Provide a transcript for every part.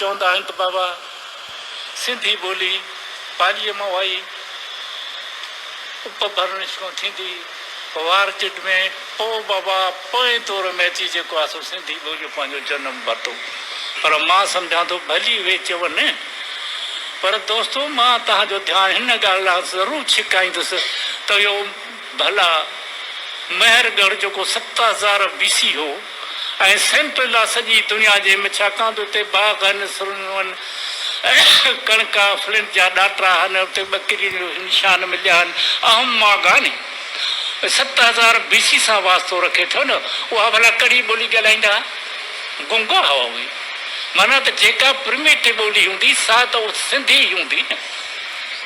چوندا آهن ته بابا سنڌي ٻولي پاليء مان وائي اپ ڀرڻ شروع ٿيندي وار چٽ ۾ پوء بابا پوئين دور ۾ اچي جيڪو آهي سو سنڌي ٻوليء پنهنجو جنم ورتو پر مان سمجهان ٿو ڀلي اهي چون پر دوستو مان توهان جو ڌيان هن ڳالهه ڏانهن ضرور ڇڪائيندس ته اهو ڀلا مهر ڳڙهه جيڪو ست هزار بي سي هو ۽ سينٽريلا سڄي دنيا جي م ڇاڪاڻ ته اتي باغن، سرنوهن، ڪڻڪا، فلنٽ جا ڏاٽرا هن اتي ٻڪرين جو نشان مليان اهم ماڳاني ست هزار بي سي سان واسطو رکي ٿو نه اها ڀلا ڪهڙي ٻولي ڳالهائيندا ها گونگا هئا اهي معنيٰ ته جيڪا پرميٽي ٻولي هوندي سا ته سنڌي ئي هوندي نه.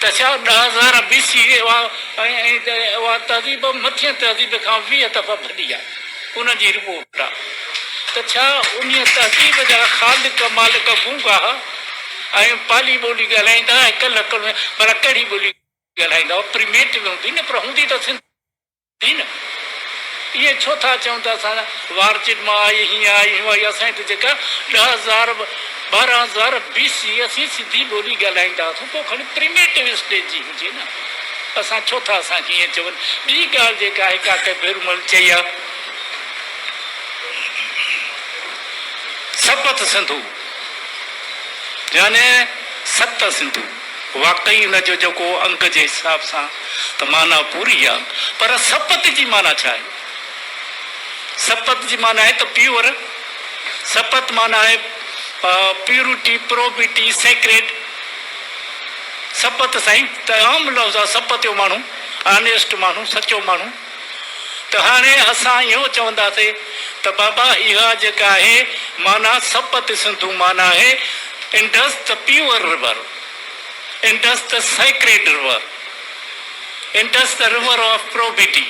ته ڇا ڏهه هزار بي سي اي اها اها تهذيب مٿين تهذيب کان ويهه دفعا ڀلي آهي؟ ان جي رپورٽ آ ته ڇا انهيء تهذيب جا خالق مالڪ گونگا ها ۽ پالي ٻولي ڳالهائيندا ۽ ڪلهڪ ۾ ڀلا ڪهڙي ٻولي ڳالهائيندا هئا؟ پريميٽو هوندي نه پر هوندي ته سنڌي. ٺيڪ نه؟ ائين ڇو ٿا چئون ته اسان وار چٽ مان آئي، هيئن آئي، هيئن آئي، اسان هت جيڪا ڏهه هزار ٻارهن هزار بي سي اسين سڌي ٻولي ڳالهائيندا هئاسون ڪو کڻي پريميٽو اسٽيج جي هجي نه اسان ڇو ٿا اسان کي ائين چون ٻي ڳالهه جيڪا آهي ڪاڪي ڀيرومل چئي ها سپت سنڌو يعني ست سنڌو. واقعي ان جو جيڪو انگ جي حساب سان ته معنيٰ پوري آ پر سپت جي معنيٰ ڇا آهي؟ سپت جي معنيٰ آهي ته پيور، سپت معنيٰ آهي پيورٽي، پروبيٽي، سيڪريٽ. سپت سائين ته عام لفظ آ، سپت جو ماڻهو، آنيسٽ ماڻهو، سچو ماڻهو. ته هاڻي اسان اهو چونداسين ته بابا اها جيڪا آهي معنيٰ سپت سنڌو معنيٰ آهي انڊس ته پيور رور، انڊس ته سيڪريڊ رور، انڊس ته رور آف پروبيٽي،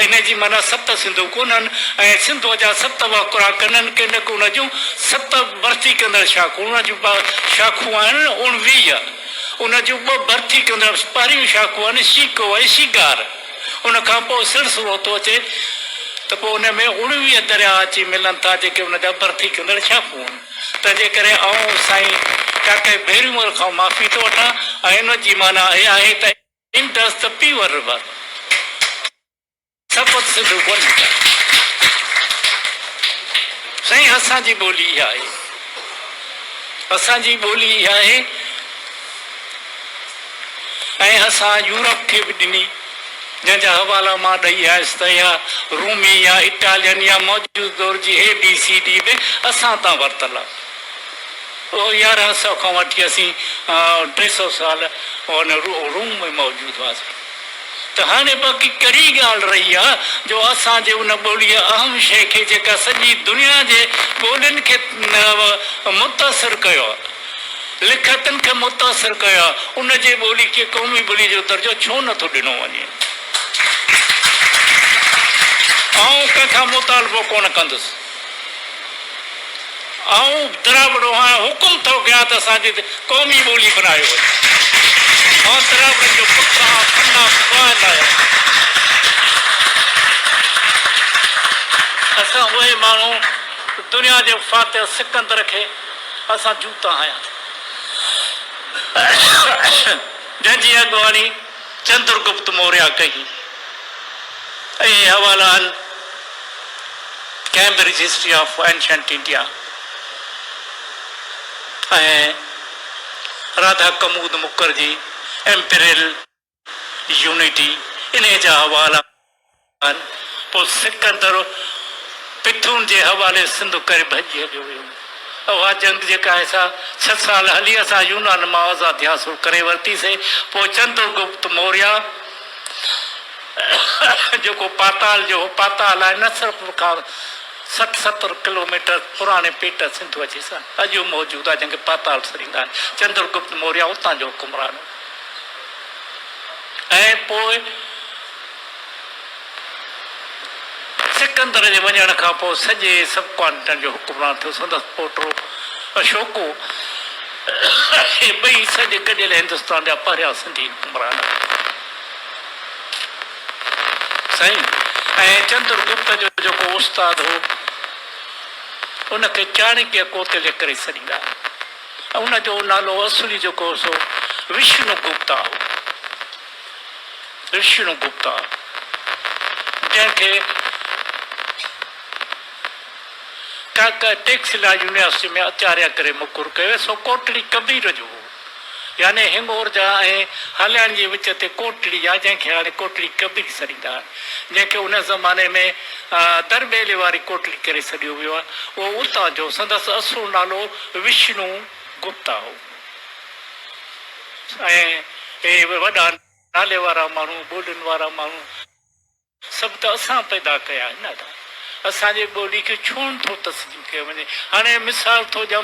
ان جي معنيٰ ست سنڌو ڪونهن ۽ سنڌوء جا ست وهڪرا ڪنن ڪنڪ ان جون ست ڀرتي ڪندڙ شاخون، ان جون شاخون آهن اوڻويهه. ان جون ٻه برٿي ڪندڙ پهريون شاخون آهن شيڪو ۽ شيگار. ان کان پوء سرسرو ٿو اچي ته پوء ان ۾ اڻويهه درياهه اچي ملن ٿا جيڪي ان جا برٿي ڪندڙ شاخون آهن. تنهنجي ڪري آئون سائين ڪاڪائي ڀيرونور کان معافي ٿو وٺان ۽ ان جي معنيٰ اها آهي ته Indus The Beaver River. Sapt Sindhu ٻولي آهي. سائين اسان جي ٻولي اها آهي. اسان جي ٻولي اها آهي ۽ اسان يورپ کي به ڏني جنهن جا حوالا مان ڏئي آيس ته اها رومي يا اٽالين يا موجوده دور جي اي بي سي ڊي به اسان تان ورتل آهي. اهو يارهن سئو کان وٺي اسين ٽي سئو سال روم ۾ موجود هئاسين. ته هاڻي باقي ڪهڙي ڳالهه رهي آ جو اسان جي ان ٻوليء اهم شيء کي جيڪا سڄي دنيا جي ٻولين کي متاثر ڪيو آ، لکيتن کي متاثر ڪيو آ، ان جي ٻولي کي قومي ٻوليء جو درجو ڇو نه ٿو ڏنو وڃي؟ آئون ڪنهن کان مطالبو ڪونه ڪندس. آئون دراوڙو آهيان، حڪم ٿو ڪيان ته اسان جي قومي ٻولي بنايو وڃي. آئون دراوڙن جو پٽ آهيان، پنڊا پوائت آهيان. اسان اهي ماڻهو دنيا جي فاتح سڪندر کي اسان جوتا هنياسين، جنهن جي اڳواڻي چندرگپت موريا ڪئي ۽ اهي حوالا ان Cambridge history of ancient India ۽ Radha Kumud Mukherjee imperial unity انهي جا حوالا ڪن، پوء سڪندر پٿون جي حوالي سنڌ ڪري ڀڄي هليو ويو. اها جنگ جيڪا آهي سا ڇهه سال هلي اسان يونان مان آزادي حاصل ڪري ورتيسي. پوء چندر گپت موريا جيڪو پاتال جو هو، پاتال آهي نه صرف کان سٺ ستر ڪلوميٽر پراڻي پيٽ سنڌو اچي سان اڄ به موجود آهي جنهن کي پاتال سرينگ آهي. چندر گپت موريا اتان جو حڪمران هو ۽ پوء سڪندر جي وڃڻ کان پوء سڄي سب ڪانٽيننٽ جو حڪمران ٿيو. سندس پوٽو اشوڪو ۽ ٻئي سڄي گڏيل هندستان جا پهريان سنڌي حڪمران هئا. سائين ۽ چندر گپت جو جيڪو استاد هو، ان کي چاڻڪيه ڪوتليه ڪري سڏيندا هئا. ان جو نالو اصلي جيڪو هو سو وشنو گپتا هو. ڪرشڻ گپتا جنهن کي ڪاڪا ٽيڪس لاء يونيورسٽي ۾ اچاريه ڪري مقرر ڪيو ويو سو ڪوٽڙي ڪبير جو هو يعني هنگور جا ۽ هالياڻي جي وچ تي ڪوٽڙي آهي جنهن کي هاڻي ڪوٽڙي ڪبير سڏيندا آهن جنهن کي ان زماني ۾ در ٻيلي واري ڪوٽڙي ڪري سڏيو ويو آهي اهو اتان جو سندس اصل نالو وشنو گپتا هو. ۽ اهي وڏا نالي وارا ماڻهو، ٻولين وارا ماڻهو سڀ ته اسان پيدا ڪيا آهن ادا! اسان جي ٻولي کي ڇو نٿو تسليم ڪيو وڃي؟ هاڻي مثال ٿو ڏيان.